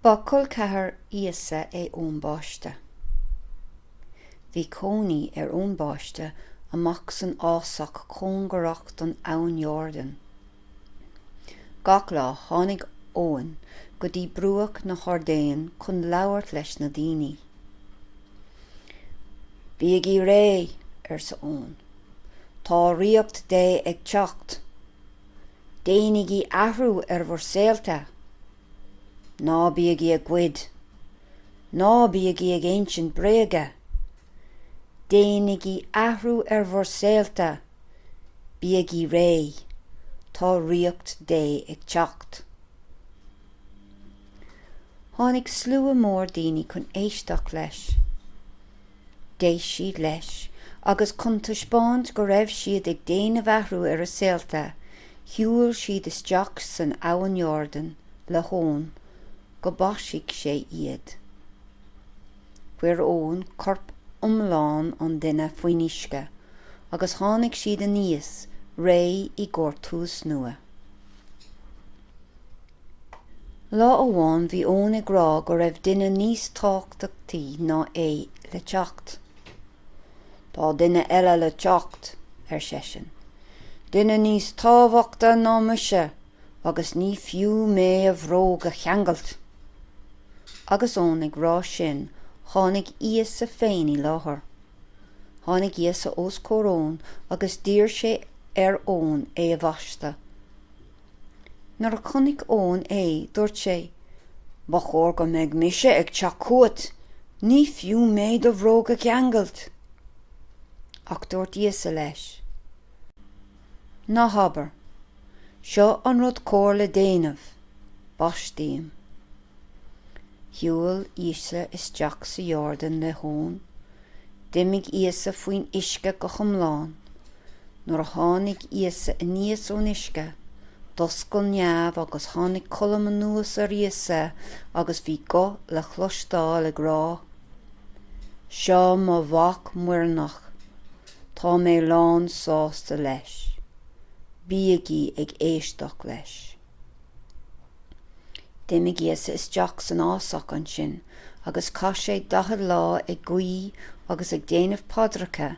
Ba col ceathrair Íosa é Eoin Báiste. Bhí cónaí ar Eoin Báiste amach san fhásach cóngarach don Abhainn Iórdain. Gach lá tháinig Eoin go dtí bruach na hIórdain chun labhairt leis na daoine. Bígí réidh! arsa Eoin. Tá ríocht Dé ag teacht! Déanaigí athrú ar bhur saolta. Ná bígí ag goid. Ná bígí ag insint bréaga. Déanaigí athrú ar bhur saolta. Bígí réidh. Tá Ríocht Dé ag teacht. Tháinig slua mór daoine chun éisteacht leis. D'éist siad leis agus chun taispeáint go raibh siad ag déanamh athrú ar a saolta, shiúil siad isteach san Abhainn Iórdan le hEoin go mbaistfeadh sé iad. Chuir Eoin corp iomlán an duine faoin uisce agus tháinig siad aníos réidh i gcomhair tús nua. Lá amháin bhí Eoin ag rá go raibh duine níos tábhachtaí ná é le teacht. Tá duine eile le teacht, ar seisean. Duine níos tábhachta ná mise agus ní fiú mé a bhróg a cheangailt. Agus Eoin ag rá sin tháinig Íosa féin i láthair. Tháinig Íosa os comhair Eoin agus d'iarr sé ar Eoin é a bhaisteadh. Nuair a chonaic Eoin é, dúirt sé, Ba chóir go mbeidh mise ag teacht chugat, ní fiú mé do bhróg a cheangailt. Ach dúirt Íosa leis, Ná habair, Seo an rud cóir le déanamh, baist mé. Shiúil Íosa isteach sa Iordáin le hEoin. D'imigh Íosa faoin uisce go hiomlán. Nuair a tháinig Íosa aníos ón uisce, d'oscail neamh agus tháinig colm anuas ar Íosa agus bhí guth le cloisteáil ag rá, Seo mo Mhac muirneach, tá mé lán sásta leis. Bígí ag éisteacht leis. D'imigh Íosa isteach san fhásach ansin agus chaith sé daichead lá ag guí agus ag déanamh paidreacha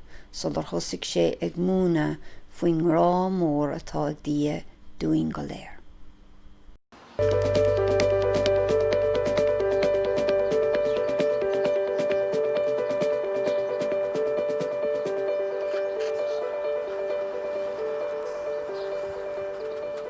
sular thosaigh sé ag múineadh faoin ngrá mór atá ag Dia dúinn go léir.